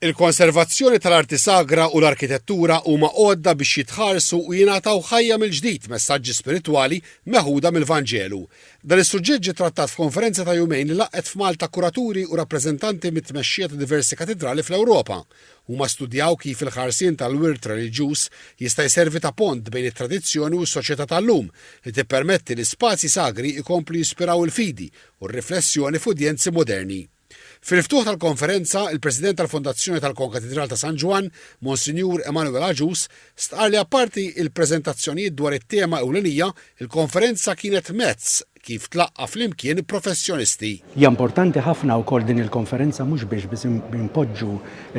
Il-konservazzjoni tal-arti sagra u l-arkitettura huma għodda biex jitħarsu u jingħataw ħajja mill-ġdid messaġġi spiritwali meħuda mill-Vanġelu. Dan is-suġġett ġie trattat f'konferenza ta' jumejn li laqgħet f'Malta kuraturi u rappreżentanti mit-tmexxija ta' diversi katidrali fl-Ewropa. Huma studjaw kif il-ħarsien tal-wirt reliġjuż jista' jservi ta' pont bejn it-tradizzjoni u s-soċjetà tal-lum, li tippermetti li spazji sagri jkomplu jispiraw il-fidi u r-riflessjoni f'udjenzi moderni. Fil-ftuħ tal-konferenza, il-President tal-Fondazzjoni tal-Konkatidral ta' San Ġwann, Monsinjur Emanuel Agius, stqarr li apparti il-preżentazzjonijiet dwar it-tema ewlenija, il-konferenza kienet mezz kif tlaqqa' flimkien professjonisti. Hija importanti ħafna wkoll din il-konferenza mhux biex biss inpoġġu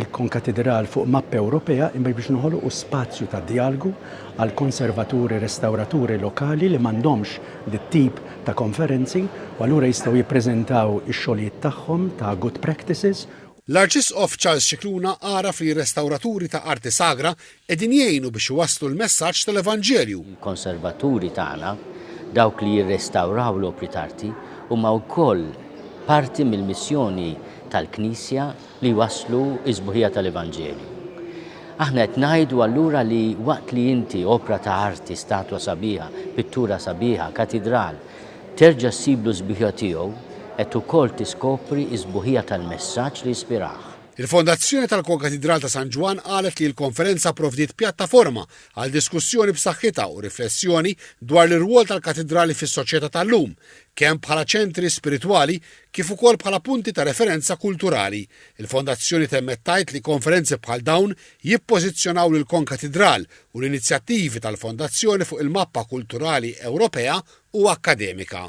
l-Konkatidral fuq mappa Ewropea imma biex noħolqu spazju ta' djalgu għall-konservaturi restawraturi lokali li m'għandhomx dit-tip ta' konferenzi u allura jistgħu jippreżentaw ix-xogħlijiet tagħhom ta' good practices. L-Arċisqof Charles Scicluna għaraf li r-restawraturi ta' arti sagra qegħdin jgħinu biex iwasslu l-messaġġ tal-Evanġelju. Il-konservaturi tagħna, dawk li jirrestawraw l-opri t'arti, huma wkoll parti mill-missjoni tal-Knisja, li jwasslu s-sbuħija tal-Evanġelju. Aħna qed ngħidu allura li waqt li inti opra ta' arti, statwa sabiħa, pittura sabiħa, katidral, terġa' ssiblu s-sbuħija tiegħu, qed ukoll tiskopri s-sbuħija tal-messaġġ li ispirah. Il-Fondazzjoni tal-Konkatidral ta' San Ġwann qalet li l-konferenza pprovdiet pjattaforma għal diskussjoni b'saħħitha u riflessjoni dwar l-irwol tal-katidrali fis-soċjetà tal-lum, kemm bħala ċentri spiritwali kif ukoll bħala punti ta' referenza kulturali. Il-Fondazzjoni temmet tgħid li konferenzi bħal dawn jippożizzjonaw lill-Konkatidral u l-inizjattivi tal-Fondazzjoni fuq il-mappa kulturali Ewropea u akkademika.